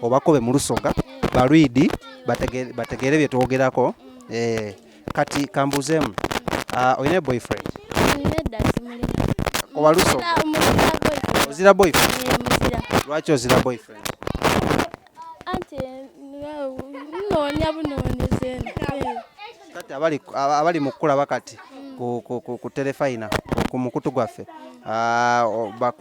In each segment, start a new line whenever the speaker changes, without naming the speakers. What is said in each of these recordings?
obakobe mu lusoga balwidi bategeere bye twogerako eh, kati kambuuzeemu ah, olina boyfriend oba lusoga ozira boyfriend lwaki ozira boyfriend kati abali mu kukulaba kati ku telefayina ku mukutu gwaffe ah,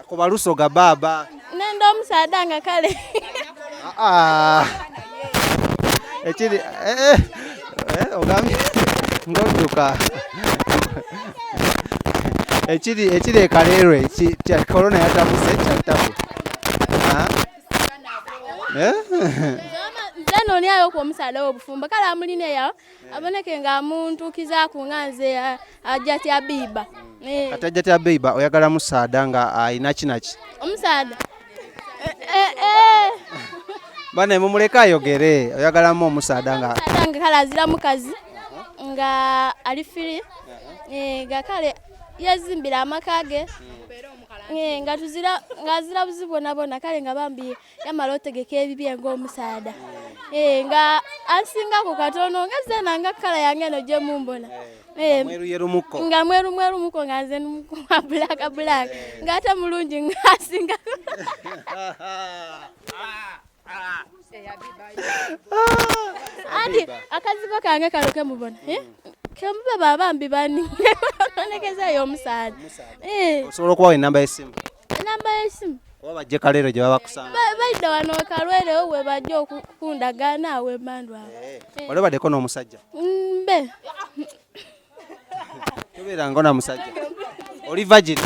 Ako balusoga
baba. Nenda omusaada
nga kale. Ah.
Ekiri eh, eh eh ogambye ngoduka. Ekiri ekiri ekalero eki kya corona yatabuse kya tabu. Ah. Eh.
Zama nzano lyayo ku omusaada obufumba kala amulina yawo. Eh. aboneke nga muntu kizaku nga nze eh, ajja tya biba hmm. eh. kati ajja tya
biba oyagala musaada nga alina ah, kinaki omusaada bane mumuleke ayogere oyagalamu omusaada nga nga kale azira
mukazi uh-huh. nga ali firi uh-huh. nga kale yezimbira amaka ge hmm. nga tuzira nga azira buzibu bonabona kale nga bambi yamala otegeka ebibye ng'omusaada eh, nga asingako katono nga zena nga kala yange eno gyemumbona eh, nga mweru mweru muko nga nze numukuwa bulaka bulaka eh. nga ate mulungi nga asingako andi akazigo kange kano kemubona kemube babambi bani onekezayo omusaada osobola
okubawa enamba y'essimu enamba yesimu
oba bajje kaleero gye
baba kusanga baidda wano
kalwere we bajja okundagaana awo emandu awo eh, eh. wali obaddeko
n'omusajja mbe tobeerango na musajja oli vagini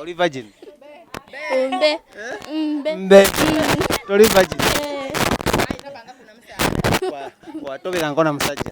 oli vagini mbe mbe mbe toli vagini eh. watobeerango na musajja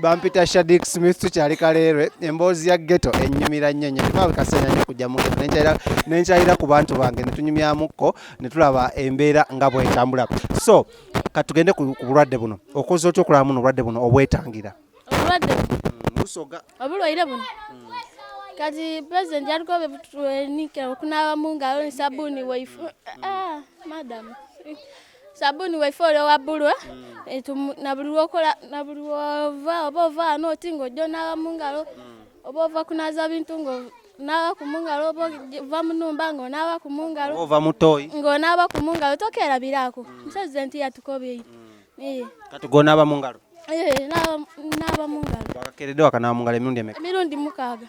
bampita shadik smith tukyali kaleerwe emboozi ya geto enyumira nnyo nyo maawe kaseera nyo kujja mu geto nenkyayira ku bantu bange netunyumyamukko netulaba embeera nga bwetambula so katugende ku bulwadde buno okoze otya okulaba muno obulwadde buno obwetangira obulwadde busoga
mm, obulwaire buno
mm. kati president yaliko bebutuenike okunaaba mu ngalo ne sabuuni waifu mm. ah, madam sabuni waife oli owa bbulwa eh, na buli lwokola na buli wova oba ova ano oti ng'ojja onaaba mu ngalo mm. oba ova kunaaza bintu ng'onaaba ku mu ngalo oba ova mu nnumba ng'onaaba ku mu ngalo ova mu tooyi
ng'onaaba ku mu ngalo
tokeerabiraako mm. musezi nti yatukobye mm. eh. kati
gw'onaaba mu ngalo eh,
naaba mu ngalo wakakeeredde wakanaaba mu ngalo
emirundi emeka emirundi mukaaga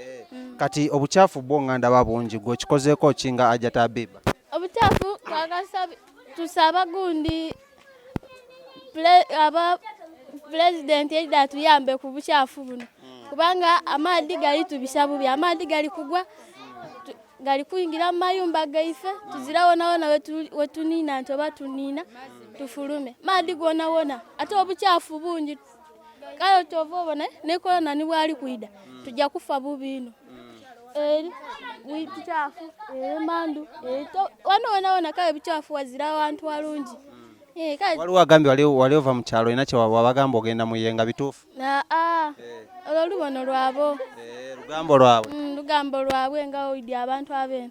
Eh, kati
obucaafu bwo nga ndaba bungi gwe okikozeeko ki nga ajja tabiba obucaafu
twagala tusaba gundi aba pulezidenti edda atuyambe ku bucaafu buno kubanga amaadhi gali tubisa bubi amaadhi gali kugwa gali kuyingira mu mayumba gaife tuzira wonawona wetuniina nti oba tuniina tufulume maadhi gonawona ate obucaafu bungi kale kyova obona ne korona ni bwali kwida mm. tujja kufa bubiino eri bikyafu emandu wano wonawona kale bikyafu wazira awantu walungi Eh, waliwo
agambye wali ova mu kyalo olina kyewabagamba ogenda muye nga bituufu aa ah, eh.
olwo lubono lwabo eh, lugambo lwabwe mm, lugambo lwabwe nga oidi abantu abene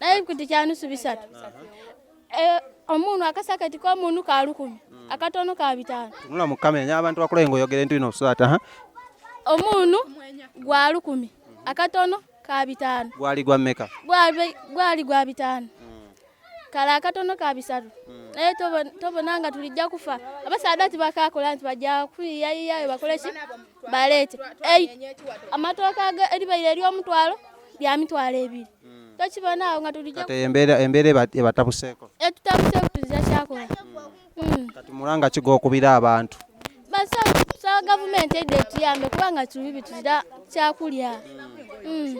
naye kuti kyanusu bisatu eh, omuntu akasakati komuntu ka lukumi mm. akatono ka bitaano tunula mu kamera nya abantu
bakulaye ngaoyogere ntu ino osusaata ha omuntu
gwa lukumi akatono ka bitaano gwali gwa mmeka
gwali gwa
bitaano mm. kale akatono ka bisatu mm. naye tobona nga tulijja kufa abasaadati bakakola nti bajja kuyiyayiyayo bakole ki baleete amatooka eribaire ery'omutwalo bya mitwalo ebiri hmm. tokibonawo nga tuliembeera
ebatabuseeko etutabuseeko tuzira
kyakola hmm. kati
mulanga kiga okubira abantu basaba
gavumenti edde etuyambe kubanga tuli bituzira kyakulya hmm.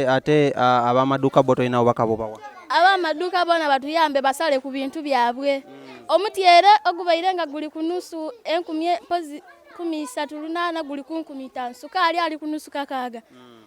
ate abamaduuka bo tolinawo bakabobawa abamaduuka bona
batuyambe basale ku bintu byabwe omutyere ogubaire nga guli ku nusu enkumi mpozi kumi isatu lunaana guli ku nkumi itaano sukaali ali ku nusu kakaaga mm.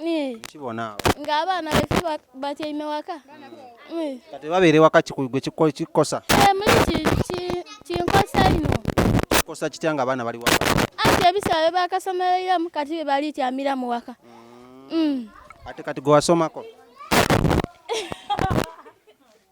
nkibona nga abaana befe batyaime waka kati
babeere waka kigwe kikosa eh, muli
kinkosa ino kikosa kitya
nga abaana bali waka ati ebisaala
bebakasomereramu kati bebalityamira mu waka mm. Mm.
ate kati gwewasomako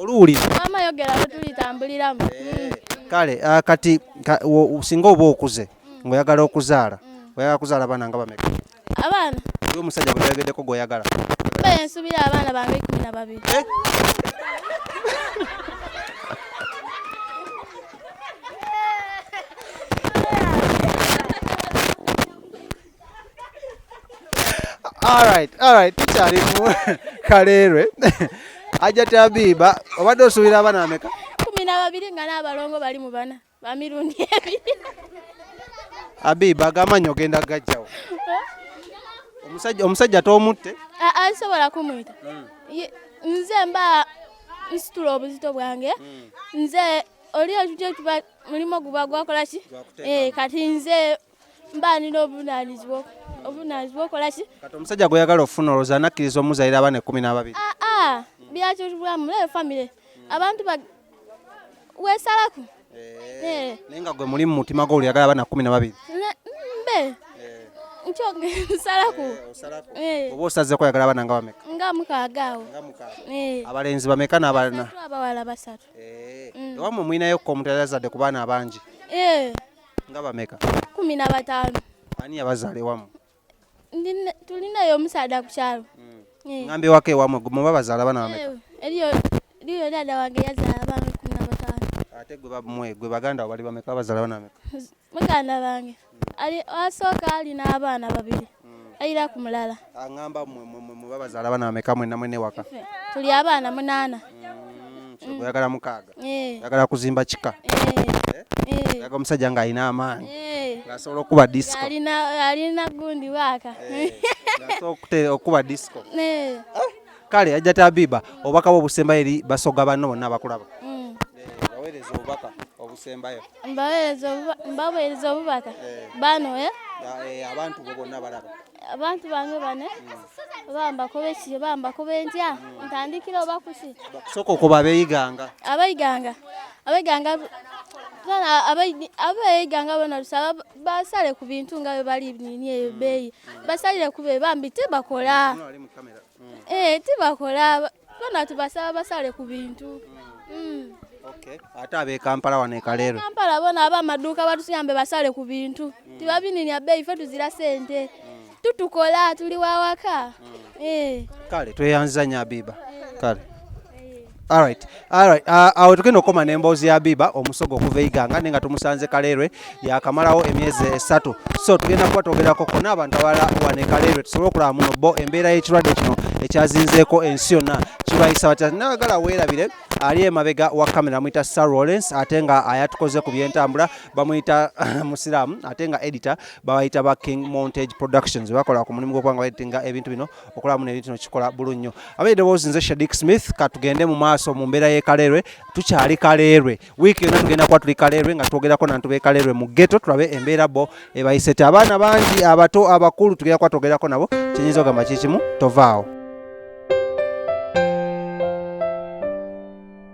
oluwulira maama yogera
lwetulitambuliramu eh, kale
ah, kati singa oba okuze ngaoyagala okuzaala oyagala kuzaala abaana nga bameka abaana
y omusajja
gweyogeddeko gweoyagala ensubira
abaana bange ikumi na babiri
eh? Alright, alright, tukyali mu Kaleerwe. Ajja Tabiba, obadde osuubira abana ameka? Kumi na babiri nga
n'abalongo bali mu bana ba mirundi ebiri. Abiba
agamanyi ogenda gajjawo. Omusajja omusajja tomutte? Aa, nsobola
kumuyita. Hmm. Nze mba nsitula obuzito bwange. Hmm. Nze oli ekyo kiba mulimo guba gwakola ki? Eh, kati nze mba nina obuvunaanyizibwa obuvunaanyizibwa okola ki kati omusajja
gweyagala okufuna olowooza anakkiriza omuzayira abaana ekkumi n'ababiri aa ah, ah,
byakibulamu naye famire abantu ba weesalaku
eh, eh. naye nga gwe muli mu mutima gwo oluyagala abaana kkumi na babiri mbe
eh. nsalaku oba osazeeko
oyagala abaana nga bameka nga mukaaga awo
abalenzi
bameka n'abana abawala basatu
mm. ewamwe
mulinayo ko omuntu yali azadde ku baana abangi nga bameka kumi na bataano
ani yabazaala
ewamu
tulinayo omusaada ku kyalo hmm. eh. ngamba ewaka
ewamu muba bazaala bana bameka eh, eriyo eriyo
dada wange yazaala abaana kumi na bataano ate gwe bamwe
gwe baganda wo bali bameka bazaala bana bameka muganda bange
hmm. ali asooka alina abaana babiri ayira ku mulala aŋamba
mwebabazaala bana bameka mwena mwene waka tuli abaana
munaana
mm, oyagala mukaaga eh. oyagala kuzimba kika eh. Eh. aga omusajja nga alina amaanyi asobola okuba disco alina
gundi waaka asobola
okuba disco kale ajja tabiba obubaka bwo obusembayo eri basoga banno bonna abakulaba mm. eh, baweereza obubaka obusembayo
mbaweereza obubaka eh. bano eh? Eh, abantu
bo bonna balaba abantu bange
bane mm. bambakoba ekiri bambakoba entya mm. ntandikira oba kuki soka okuba
abeyiganga abeyiganga abeyiganga
abeyiganga bona lusaba basale ku bintu nga bwe bali nini eyo beeyi basalire ku be bambi tebakola mm. eh, tibakola bona tubasaba basale ku bintu
mm. ate abekampala wano ekaleero kampala bona aba
amaduuka batuyambe basale ku bintu mm. tibabininya beeyi fe tuzira sente mm. tutukola tuli wawaka mm. eh.
kale tweyanziza nyo abiba kale Alright. Alright. Uh, awo tugenda okoma n'emboozi ya Biba omusogo okuva eiganga naye nga tumusanze Kaleerwe yakamalawo emyezi esatu so tugenda kuba twogerako kona abantu abala wane Kaleerwe tusobole okulaba muno bo embeera y'ekirwadde kino ekyazinzeeko ensi yonna kibayisa batya nayagala weerabire ali emabega wa kamera amuyita sir rollens ate nga ayatukoze ku byentambula bamuyita musiraamu ate nga editor babayita ba king montage productions bakola ku mulimu gwokubanga baeditinga ebintu bino okulamu ne bintu kikola bulu nnyo abaye dewoozi nze Shadik Smith katugende mu maaso mu mbeera y'e Kaleerwe tukyali Kaleerwe wiiki yonna tugenda kuba tuli Kaleerwe nga twogerako nantu b'e Kaleerwe mu ghetto tulabe embeera bo ebayise ti abaana bangi abato abakulu tugenda kuba twogerako nabo kyenyinza ogamba kikimu tovaawo